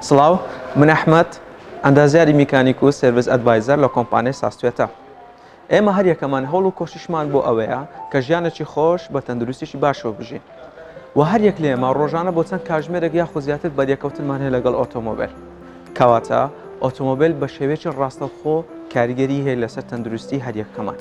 سڵاو من ئەحمد ئەندازیاری میکانیک و سرویس ئەدڤایزەر لە کۆمپانیای ساستێتە ئێمە هەر یەکەمان هەوڵ و کۆشیشمان بۆ ئەوەیە کە ژیانێکی خۆش بە تەندروستیشی باشەوە بژین و هەر یەک لێمە ڕۆژانە بۆ چەند کاژمێرەێک یا خۆزیاتر بەریەکەوتنمان هەیە لەگەڵ ئۆتۆمۆبیل کەواتە ئۆتۆمۆبیل بە شێوێکی ڕاستەوخۆ کاریگەری هەیە لەسەر تەندروستی هەریەکەمان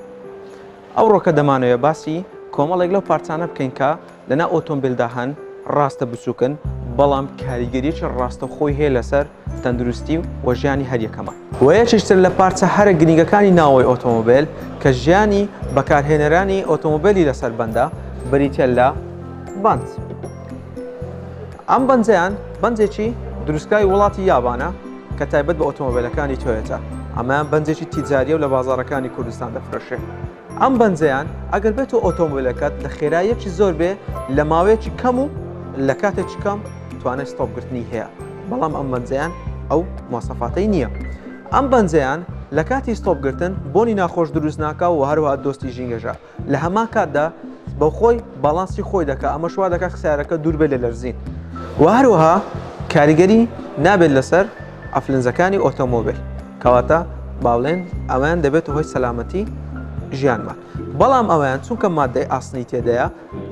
ئەوڕۆکە دەمانەوێت باسی کۆمەڵێک لەو پارچانە بکەین کە لەناو ئۆتۆمبیلدا هەن، ڕاستە بچووکن، بەڵام کاریگەرییەکی ڕاستەوخۆی هەیە لەسەر تەندروستی و ژیانی هەریەکەمان. وە یەکێکتر لە پارچە هەرە گرنگەکانی ناوەوەی ئۆتۆمۆبیل کە ژیانی بەکارهێنەرانی ئۆتۆمۆبیلی لەسەر بەندە، بریتییە لە بەنج. ئەم بەنجەیان بەنجێکی دروستکراوی وڵاتی یابانە، کە تایبەت بە ئۆتۆمۆبیلەکانی تۆیەتە ئەمەیان بەنجێکی تیجاریە و لە بازارەکانی کوردستان دەفرەشێ ئەم بەنجەیان ئەگەر بێت و ئۆتۆمبیلەکەت لە خێرایەکی زۆر بێ لە ماوەیەکی کەم و لە کاتێکی کەم توانای ستۆپگرتنی هەیە بەڵام ئەم بەنجەیان ئەو مۆسەفاتەی نییە ئەم بەنجەیان لە کاتی ستۆپگرتن بۆنی ناخۆش دروست ناکە و هەروە دۆستی ژینگەژە لە هەمان کاتدا بە خۆی باڵانسی خۆی دەکات ئەمەش وا دەکات سیارەکە دوور بێت لە لەرزین و هەروەها کاریگەری نابێت لەسەر ئەفلنزەکانی ئۆتۆمۆبیل کەواتە باڵێن ئەویان دەبێت هۆی سەلامەتی ژیانمان بەڵام ئەویان چونکە مادەی ئاسنی تێدەیە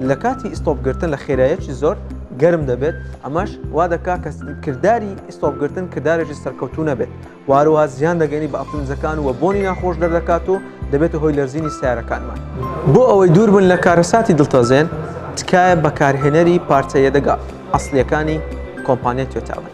لە کاتی ئیستۆپگرتن لە خێرایەکی زۆر گەرم دەبێت ئەمەش وا دەکات کە کردداری ئیستۆپگرتن کردارێکی سەرکەوتو نەبێت وهروها زیان دەگەینی بە ئەفلونزەکان و بۆنی ناخۆش دەردەکات و دەبێتە هۆی لەرزینی سیارەکانمان. بۆ ئەوەی دووربن لە کارەساتی دڵتەزێن تکایە بەکارهێنەری پارچە یەدەگە ئەسڵیەکانی کۆمپانیای تۆیتا بن.